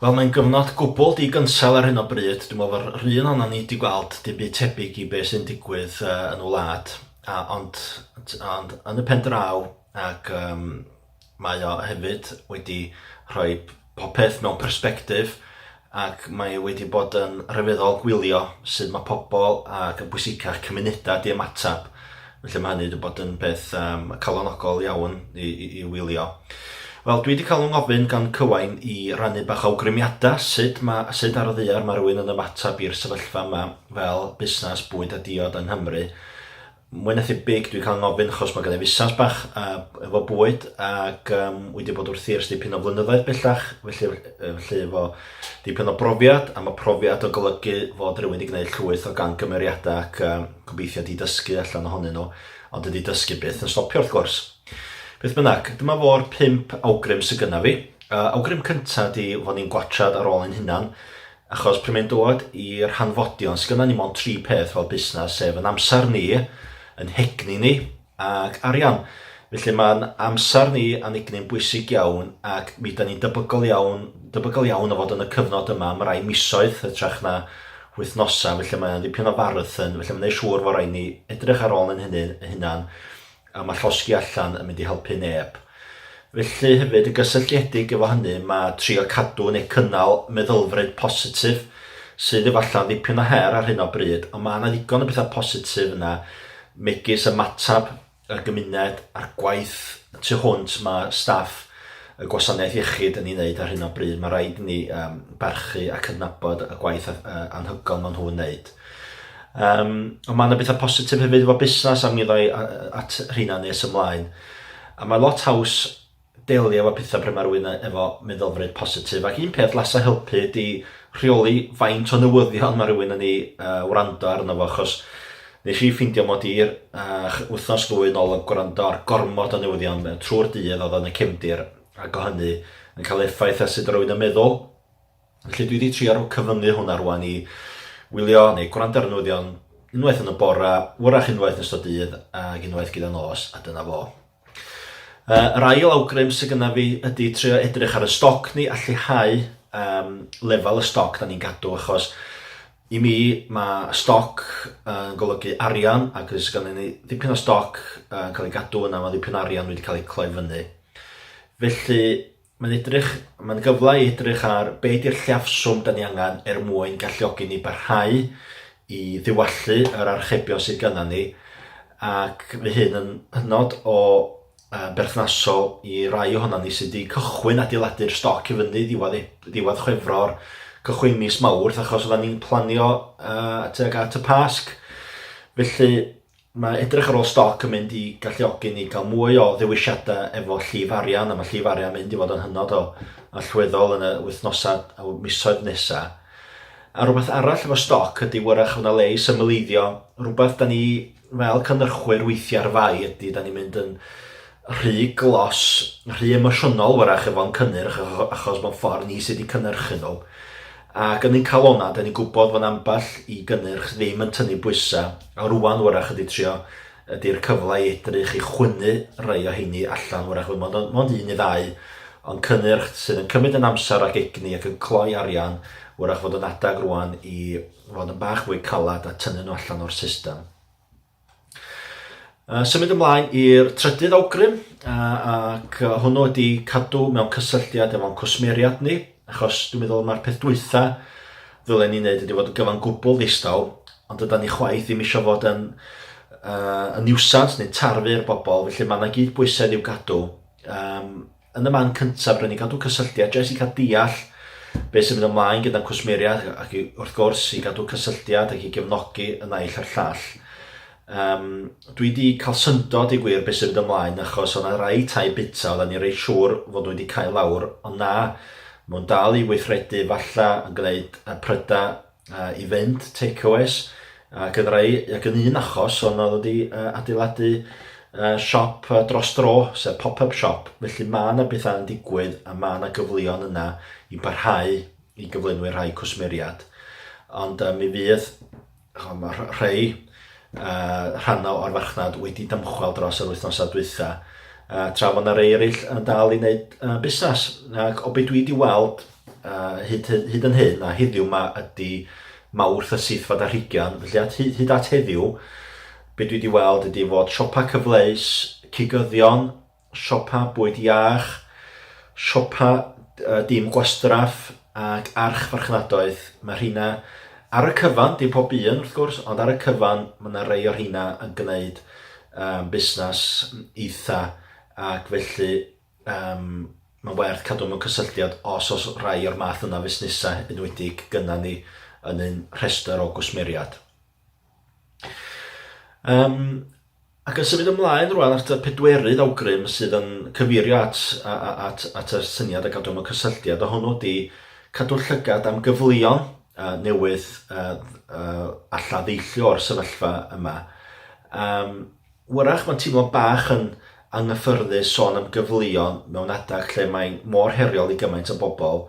Wel mae'n gyfnod gwbl di-gynsail ar hyn o bryd. Dwi'n meddwl fod yr un ohono ni wedi gweld dim byd tebyg i beth sy'n digwydd uh, yn y wlad. A, ond, ond yn y pen draw, ac um, mae o hefyd wedi rhoi popeth mewn persbectif ac mae wedi bod yn rhyfeddol gwylio sut mae pobl ac yn bwysicach cymunedau di ymateb. Felly mae hynny wedi bod yn beth um, calonogol iawn i, i, i wylio. Wel, dwi wedi cael yng ngofyn gan Cywain i rannu bach o awgrymiadau sut, ma, sut ar y ddiar mae rhywun yn ymateb i'r sefyllfa yma fel busnes bwyd a diod yng Nghymru. Mwy na thebyg dwi'n cael ngofyn achos mae gen i fusnes bach uh, efo bwyd ac um, wedi bod wrthi ers dipyn o flynyddoedd bellach, felly, felly efo dipyn o brofiad a mae profiad o golygu fod rhywun wedi gwneud llwyth o gan gymeriadau ac um, gobeithio di dysgu allan ohonyn nhw, ond ydy dysgu byth yn stopio wrth gwrs. Beth bynnag, dyma fo'r pimp awgrym sy'n gynnaf fi. Uh, awgrym cyntaf di fod ni'n gwatrad ar ôl ein hunan, Achos pryd mae'n dod i'r hanfodion, sgynnon ni mond tri peth fel busnes, sef yn amser ni, yn hegni ni, ac arian. Felly mae'n amser ni a'n egni'n bwysig iawn, ac mi da ni'n debygol iawn, debygol iawn o fod yn y cyfnod yma am rai misoedd, hytrach na wythnosau, felly mae'n ddipyn o farthyn, felly mae'n ei siŵr fod rhaid ni edrych ar ôl yn hynny, hunan, a mae llosgi allan yn mynd i helpu neb. Felly hefyd y gysylltiedig efo hynny mae trio cadw neu cynnal meddylfryd positif sydd efallai'n ddipyn o her ar hyn o bryd, ond mae yna ddigon o bethau positif yna, megis y matab y gymuned a'r gwaith tu hwnt mae staff y gwasanaeth iechyd yn ei wneud ar hyn o bryd. Mae rhaid i ni um, barchu a cydnabod y gwaith anhygoel maen nhw'n wneud. Um, ond mae yna bethau positif hefyd efo busnes a mi ddau at rheina nes ymlaen. A mae lot haws delio efo pethau pryd mae rhywun efo meddylfryd positif. Ac un peth lasa helpu ydy rheoli faint o newyddion mae rhywun yn ei uh, wrando arno fo, achos nes i ffeindio mod i'r uh, wythnos ddwy yn ôl yn gwrando ar gormod o newyddion trwy'r dydd oedd yn y cefndir, ac o hynny yn cael effaith a sut rwy'n yn meddwl. Felly dwi 'di trio cyfyngu hwnna rwan i wylio neu gwrando ar y newyddion unwaith yn y bore, wrach unwaith yn ystod dydd ag unwaith gyda nos, a dyna fo. Uh, yr ail awgrym sydd gyda fi ydy trio edrych ar y stoc ni a lleihau um, lefel y stoc da ni'n gadw achos i mi mae stoc yn uh, golygu arian ac os gan ni ddipyn o stoc yn uh, cael ei gadw yna mae ddipyn o arian wedi cael ei cloi fyny. Felly Mae'n edrych, mae'n gyfle i edrych ar be ydy'r lliafswm da ni angen er mwyn galluogi ni barhau i ddiwallu yr archebion sydd gyda ni ac mae hyn yn hynod o uh, berthnasol i rai ohono ni sydd wedi cychwyn adeiladu'r stoc i fyny ddiwedd, e-, ddiwedd chwefror, cychwyn mis mawrth achos oedden ni'n planio uh, tuag at y Pasg. Felly Mae edrych ar ôl stoc yn mynd i galluogi ni cael mwy o ddewisiadau efo llif arian, a mae llif arian yn mynd i fod yn hynod o allweddol yn y wythnosau a misoedd nesaf. A rhywbeth arall efo stoc ydy wyrach fod 'na le i symleiddio, rhywbeth da ni fel cynhyrchwyr weithiau ar fai ydy da ni'n mynd yn rhy glos, rhy emosiynol wyrach efo'n cynnyrch achos mewn ffordd ni sydd wedi cynhyrchu nhw. Ac yn ein calonnau, dan ni'n gwybod fod ambell i gynnyrch ddim yn tynnu bwysau, a rŵan wrach ydy trio ydy'r cyfle i edrych i chwynnu rhai o heini allan, wrach fod mond, mond un neu ddau, ond cynnyrch sydd yn cymryd yn amser ac egni ac yn cloi arian, wrach fod yn adeg rŵan i fod yn bach fwy calad a tynnu nhw allan o'r system. Uh, symud ymlaen i'r trydydd awgrym, uh, ac uh, hwnnw ydy cadw mewn cysylltiad efo'n cwsmeriad ni, achos dwi'n meddwl mae'r peth dwytha ddylen ni'n neud ydy fod yn gyfan gwbl ddistaw, ond ydy ni chwaith ddim eisiau fod yn, uh, yn niwsans neu tarfu'r bobl, felly mae yna gyd bwysedd i'w gadw. Um, Yn y man cyntaf, rydyn ni'n cadw cysylltiad jyst i cael deall beth sy'n mynd ymlaen gyda'n cwsmeriaid ac i, wrth gwrs i gadw cysylltiad ac i gefnogi y naill a'r llall. Um, dwi wedi cael syndod i gwir beth sy'n mynd ymlaen achos o'na rai tai bita oedden ni'n rei siŵr fod nhw wedi cael lawr ond na, maen nhw'n dal i weithredu falle yn gwneud y prydau uh, i fynd, takeaways, ac yn rhai, ac yn un achos, ond oedd wedi uh, adeiladu uh, siop uh, dros dro, sef pop-up siop, felly mae yna bethau yn digwydd a mae yna gyfleon yna i barhau i gyflenwi rhai cwsmeriad. Ond uh, mi fydd rhai uh, rhannau o'r farchnad wedi dymchwel dros yr wythnosau dwytha, uh, tra fod yna rei eraill yn dal i wneud uh, busnes. Ac o beth dwi wedi weld, Uh, hyd, hyd, hyd yn hyn, a heddiw yma ydy mawrth y syth fod a rhigion, felly at, hyd, hyd at heddiw, be dwi wedi weld ydy fod siopa cyfleus, cigyddion, siopa bwyd iach, siopa uh, dim gwastraff ac arch farchnadoedd. Mae rheina ar y cyfan, dim pob un wrth gwrs, ond ar y cyfan mae yna rei o rheina yn gwneud um, busnes eitha ac felly Yym, mae'n werth cadw mewn cysylltiad os oes rhai o'r math yna o fusnesau enwedig gyda ni yn ein rhestr o gwsmeriaid. Um, ac yn symud ymlaen rwan at y pedwerydd awgrym sydd yn cyfeirio at, at, at, at y syniad a gadw mewn cysylltiad, a hwnnw di cadw llygad am gyfleon uh, newydd uh, uh, a lladdeillio o'r sefyllfa yma. Um, Wrach mae'n teimlo bach yn anghyffyrddus sôn am gyfleon mewn adeg lle mae'n mor heriol i gymaint o bobl,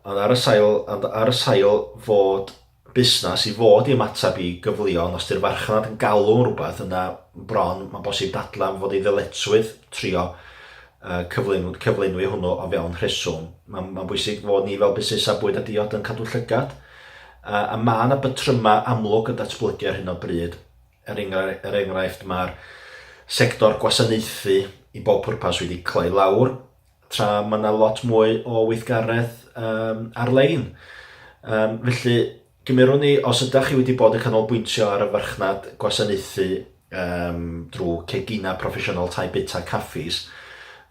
ond ar y sail, ond ar y sail fod busnes i fod i ymateb i gyfleon, os di'r farchnad yn galw am rhywbeth yna bron mae'n bosib dadlau am fod ei ddyletswydd trio uh, cyflyn, cyflynwi hwnnw o fewn rheswm. Mae'n ma bwysig fod ni fel busnesau bwyd a diod yn cadw llygad, uh, a mae yna bytrymau amlwg yn datblygu ar hyn o bryd Er enghraifft, er enghraifft mae'r sector gwasanaethu i bob pwrpas wedi cloi lawr, tra mae yna lot mwy o weithgaredd um, ar-lein. Um, felly, gymerwn ni, os ydych chi wedi bod yn canolbwyntio ar y farchnad gwasanaethu um, drwy cegina proffesiynol tai bita caffis,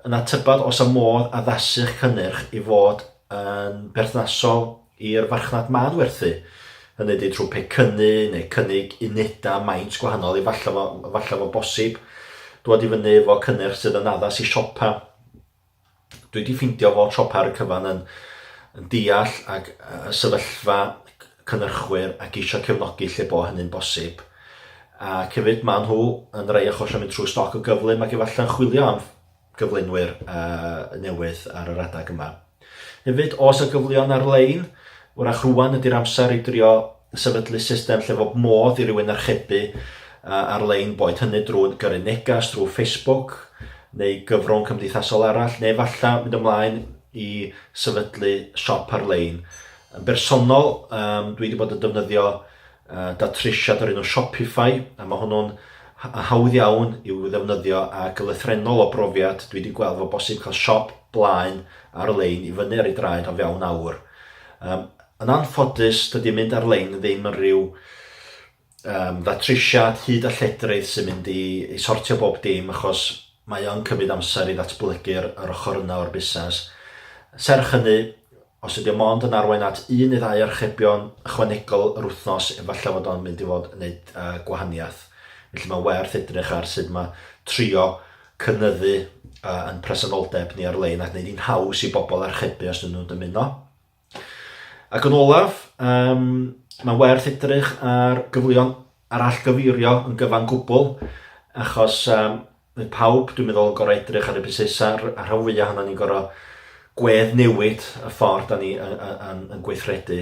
yna tybed os y modd addasu'ch cynnyrch i fod yn berthnasol i'r farchnad maen werthu, hynny ydy trwy pecynnu neu cynnig unedau maint gwahanol i falle fo, falle fo bosib dod i fyny efo cynnyrch sydd yn addas i siopa. Dwi wedi ffeindio fod siopa ar y cyfan yn, yn deall ac y sefyllfa cynnyrchwyr ac eisiau cefnogi lle bo hynny'n bosib. A cefyd maen nhw yn rhai achosion mynd trwy stoc o gyflym ac efallai'n chwilio am gyflenwyr newydd ar yr adeg yma. Hefyd, oes 'na gyfleon ar-lein? Wrach rŵan ydy'r amser i drio sefydlu system lle fob modd i rywun archebu ar-lein, boed hynny drwy gyrru neges drwy Facebook neu gyfrwng cymdeithasol arall, neu efallai mynd ymlaen i sefydlu siop ar-lein. Yn bersonol, dwi wedi bod yn defnyddio Yy da Trish ado'r un o Shopify a ma' hwnnw'n ha- yy hawdd iawn i'w ddefnyddio ag yn lythrennol o brofiad dwi 'di gweld fo bosib cael siop blaen ar-lein i fyny ar ei draed o fewn awr. Yym yn anffodus dydi mynd ar-lein ddim yn rhyw yym ddatrisiad hud a lledrith sy'n mynd i i sortio bob dim achos mae o'n cymryd amser i ddatblygu'r yr ochr yna o'r busnes. Serch hynny Os ydy o mond yn arwain at un neu ddau archebion ychwanegol yr wythnos, efallai fod o'n mynd i fod yn neud uh, gwahaniaeth. Felly mae'n werth edrych ar sut mae trio cynyddu uh, yn presenoldeb ni ar-lein ac wneud hi'n haws i bobl archebu os dyn nhw'n dymuno. Ac yn olaf, um, mae'n werth edrych ar gyfleon arallgyfeirio yn gyfan gwbl, achos um, Mae pawb, dwi'n meddwl, yn gorau edrych ar y busnesau, a rhan fwyaf ohono ni'n gorau gwedd newid y ffordd da ni yn, yn, yn gweithredu.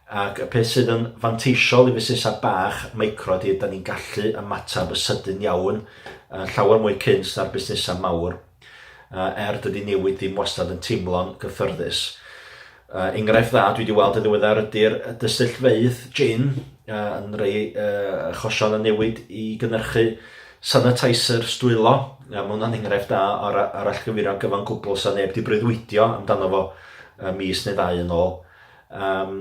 Ac y peth sydd yn fanteisiol i fusnesau bach, micro, ydy, da ni'n gallu ymateb y sydyn iawn, uh, llawer mwy cynt na'r busnesau mawr, uh, er dydy newid ddim wastad yn teimlo'n gyffyrddus. Uh, enghraifft dda dwi wedi weld yn ddiweddar ydy'r dystyllfeydd gin uh, yn rhoi uh, chosion a newid i gynnyrchu sanitizer stwylo. Uh, mae hwnna'n enghraifft da ar, ar allgyfuro gyfan gwbl sa neb wedi breuddwydio amdano fo uh, mis neu ddau yn ôl. Um,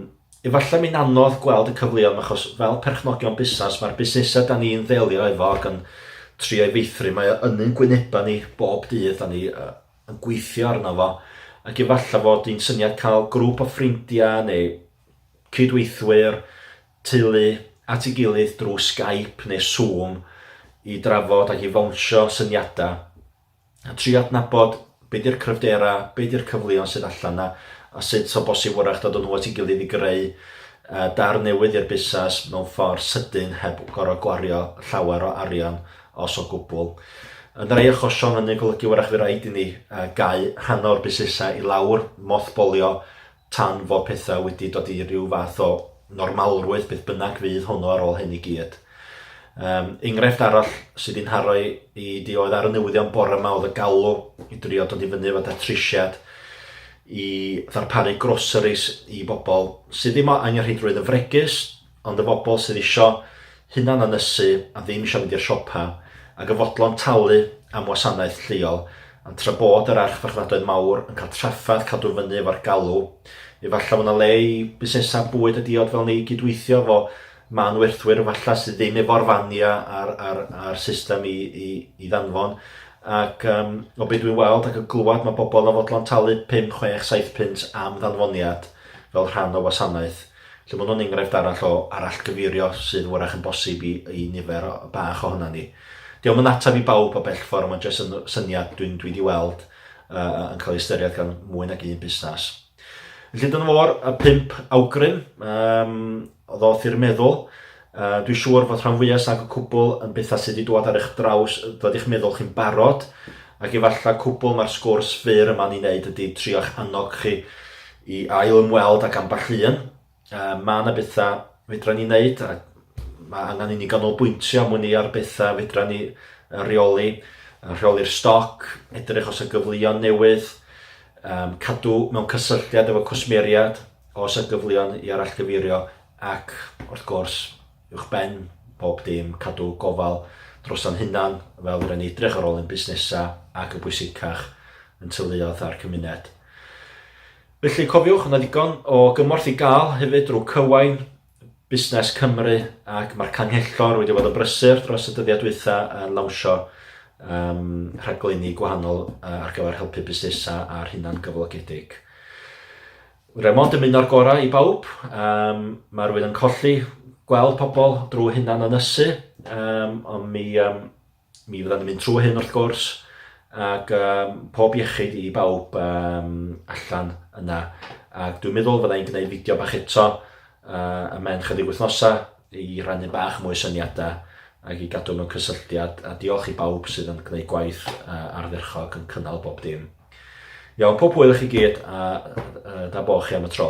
efallai mi'n anodd gweld y cyfleon achos fel perchnogion busnes mae'r busnesau da ni'n ddelio efo ac yn trio'i feithrin mae o yn ein gwynebau ni bob dydd da ni uh, yn gweithio arno fo, ac efallai fod hi'n syniad cael grŵp o ffrindiau neu cydweithwyr teulu at ei gilydd drwy Skype neu Zoom i drafod ac i fawnsio syniadau a trio adnabod be di'r cryfderau, be di'r cyfleon sydd allan na a sut o bosib wrach dod o nhw at ei gilydd i greu dar newydd i'r busnes mewn ffordd sydyn heb gorfod gwario llawer o arian os o gwbl. Yn rhai achosion hynny'n golygu wrach fy raid i ni gau rhan o'r busnesau i lawr, mothbolio, tan fod pethau wedi dod i ryw fath o normalrwydd, beth bynnag fydd hwnnw ar ôl hyn i gyd. Um, enghraifft arall sydd i'n haro i, i di oedd ar y newyddion bore yma oedd y galw i drio dod i fyny efo datrisiad i ddarparu groceries i bobl sydd ddim angenrheidrwydd yn fregus, Ond y bobl sydd isio hunan ynysu a ddim isio mynd i'r siopa, ac yn fodlon talu am wasanaeth lleol, ond tra bod yr archfarchnadoedd mawr yn cael trafferth cadw fyny efo'r galw, efallai fod 'na le i busnesau bwyd a diod fel ni gydweithio efo mân werthwyr efallai sydd ddim efo'r faniau a'r, a'r, a'r system i, i, i ddanfon. Ac um, o beth dwi'n weld ac yn glywed mae bobl yn fodlon talu 5, 6, 7 punt am ddanfoniad fel rhan o wasanaeth. Lle mae hwn yn enghraifft arall o arallgyfeirio sydd wrach yn bosib i i nifer bach ohonan ni. Dio'm yn ateb i bawb o bell ffordd, mae jyst yn syniad dwi'n dwi di weld uh, yn cael ei ystyried gan mwy nag un busnes. Felly dyna fo'r y pimp awgrym um, oedd oth i'r meddwl. Yy, dwi siŵr fod rhan fwyaf sag y cwbl yn bethau sydd wedi dod ar eich draws, dod i'ch meddwl chi'n barod, ac efallai cwbl mae'r sgwrs fyr yma'n ei wneud ydy trio'ch annog chi i ail ymweld ac ambell un. Yy, mae yna bethau fedra ni wneud, a mae angen i ni ganolbwyntio am wn i ar bethau fedra ni reoli, rheoli'r stoc, edrych os y gyfleoedd newydd, um, cadw mewn cysylltiad efo cwsmeriad os y gyfleoedd i arallgyfeirio Ac, wrth gwrs, uwchben bob dim, cadw gofal droso'n hunan, fel fedrwn ni edrych ar ôl ein busnesau ac, yn bwysicach, ein teuluoedd a'r cymuned. Felly, cofiwch, yna ddigon o gymorth i gael hefyd drwy Cywain, Busnes Cymru, ac mae'r Canghellor wedi bod yn brysur dros y dyddiau dwytha yn lawnsio um, rhaglenni gwahanol uh, ar gyfer helpu busnesau a'r hunan gyflogedig. Remond yn mynd o'r gorau i bawb. Um, mae rhywun yn colli gweld pobl drwy hynna'n ynysu, um, ond mi, um, mi fydda'n mynd trwy hyn wrth gwrs, ac um, pob iechyd i bawb um, allan yna. Ac dwi'n meddwl fyddai'n gwneud fideo bach eto uh, y mewn chydig wythnosau i rannu bach mwy syniadau ac i gadw mewn cysylltiad a diolch i bawb sydd yn gwneud gwaith uh, ardderchog yn cynnal bob dim. Iawn, pob hwyl i chi gyd a uh, da bo chi am y tro.